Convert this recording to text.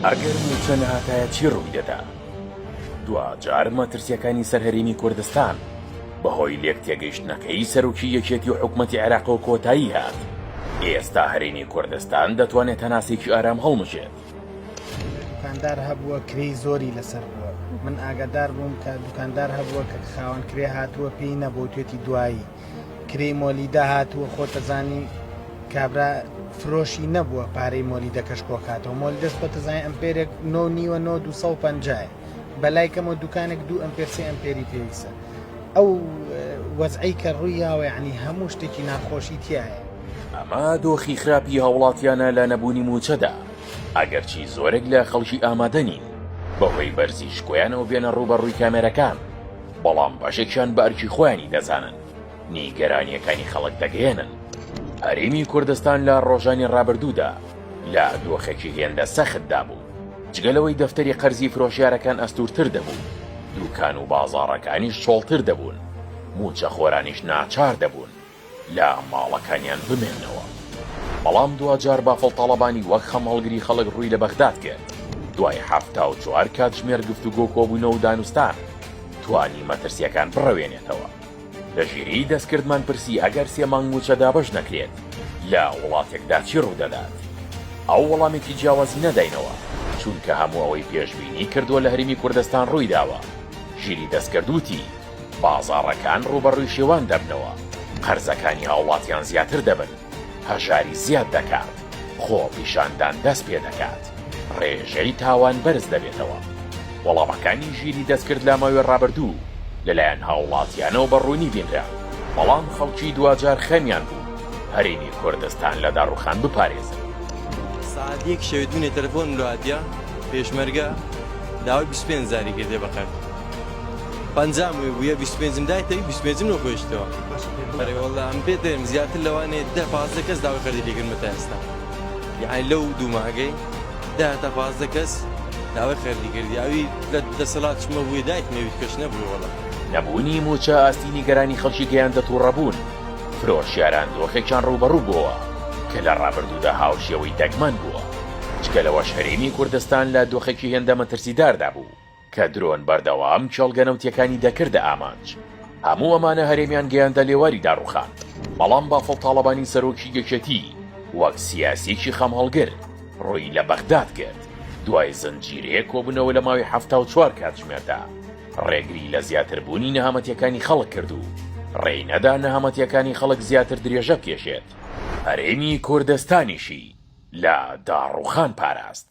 ئەگەر مووچە نەهاتایە چی ڕووی دەدا؟ دواجار مەترسیەکانی سەر هەرێمی کوردستان بەهۆی لێک تێگەیشتنەکەی سەرۆکی یەکێتی و حکومەتی عێراقەوە کۆتایی هات ئێستا هەرێمی کوردستان دەتوانێت هەناسێکی ئارام هەڵمژێت دوکاندار هەبووە کری زۆری لەسەر بووە من ئاگادار بووم کە دوکاندار هەبووە کە خاوەن کرێ هاتووە پێی نەبوو توێتی دوایی کرێی مۆلیدە هاتووە خۆتەزانی کابرا فرۆشی نەبووە پارەی مۆلی دەکەش کۆکاتەوە مۆل دەست بەتەزانانی ئەمپێرێک نۆ نیوە نۆ 250 بەلای کەمە دوکانێک دوو ئەمپێرسی ئەمپێری پێویستە ئەو وەزعی کە ڕوویاوە عنی هەموو شتێکی ناخۆشی تایە ئەمە دۆخی خراپی هاوڵاتیانە لە نەبوونی موچەدا ئەگەرچی زۆرێک لە خەڵکی ئامادەنین بەهۆی بەرزی شکۆیانەوە بێنە ڕووبەڕووی کامێرەکان بەڵام بەشێکیان بە ئەرکی خۆیانی دەزانن نیگەرانییەکانی خەڵک دەگەیەنن. هەرێمی کوردستان لە ڕۆژانی ڕابردوودا لە دۆخێکی هێندە سەختدا بوو، جگە لەوەی دەفتەری قەرزی فرۆشیارەکان ئەستوورتر دەبوو، دووکان و بازاڕەکانیش چۆڵتر دەبوون، مووچەخۆرانیش ناچار دەبوون لە ماڵەکانیان بمێنەوە. بەڵام دواجار بافڵ تاڵەبانی وەک خەم هەڵگری خەڵک ڕووی لە بەغداد کرد. دوای حەفتا و چوار کاتژمێر گفتوگۆ کۆبوونەوە و دانوستان توانی مەترسییەکان بڕەوێنێتەوە. لە ژیریی دەستکردمان پرسی ئەگەر سێ مانگ مووچە دابەش نەکرێت لە وڵاتێکدا چی ڕوو دەدات؟ ئەو وەڵامێکی جیاوازی نەداینەوە، چونکە هەموو ئەوەی پێشبینی کردووە لە هەرێمی کوردستان ڕووی داوە. ژیریی دەستکرد وتی. بازاڕەکان ڕووبەڕووی شێوان دەبنەوە، قەرزەکانی هاوڵاتیان زیاتر دەبن، هەژاری زیاد دەکات، خۆپیشاندان دەست پێ دەکات، ڕێژەی تاوان بەرز دەبێتەوە. وەڵامەکانی ژیری دەستکرد لە ماوەی ڕابردوو لەلایەن هاوڵاتیانەوە بە ڕوونی بینرا، بەڵام خەڵکی دواجار خەمیان بوو هەرێمی کوردستان لە داڕوخان بپارێزن. سەعات یەک شەوێ دوێنێ تەلەفۆنم لۆ هاتیە، پێشمەرگە داوای بیست و پێنج هەزاری کردیە بە قەرز. پەنجام وی بویە بیست و پێنجم دای تەوی بیست و پێنجم لۆ خۆی شتەوە ئەرێ وەڵا ئەم پێت دەێم زیاتر لەوانێ دە پازدە کەس داوای قەرزی لێ کردمە تا ئێستا یەعنی لەو دوو مانگەی دە تا پازدە کەس داوای قەرزی کردی ئەوی لە دەسەڵات چمە بووی دایک نەویت کەش نەبووی وەڵا نەبوونی مووچە ئاستی نیگەرانی خەڵکی گەیاندە تووڕەبوون، فرۆشیاران دۆخێکیان ڕووبەڕوو بۆوە کە لە ڕابردوودا هاوشێوەی دەگمەن بووە، جگە لەوەش هەرێمی کوردستان لە دۆخێکی هێندە مەترسیداردا بوو. کە درۆن بەردەوام کێڵگە نەوتیەکانی دەکردە ئامانج هەموو ئەمانە هەرێمیان گەیاندە لێواری داڕوخان بەڵام بافڵ تاڵەبانی سەرۆکی یەکێتی وەک سیاسیەکی خەم هەڵگر ڕووی لە بەغداد کرد دوای زنجیرەیە کۆبوونەوە لە ماوەی حەفتا و چوار کاتژمێردا ڕێگری لە زیاتر بوونی نەهامەتیەکانی خەڵک کرد و ڕێی نەدا نەهامەتیەکانی خەڵک زیاتر درێژە بکێشێت هەرێمی کوردستانیشی لە داڕوخان پاراست.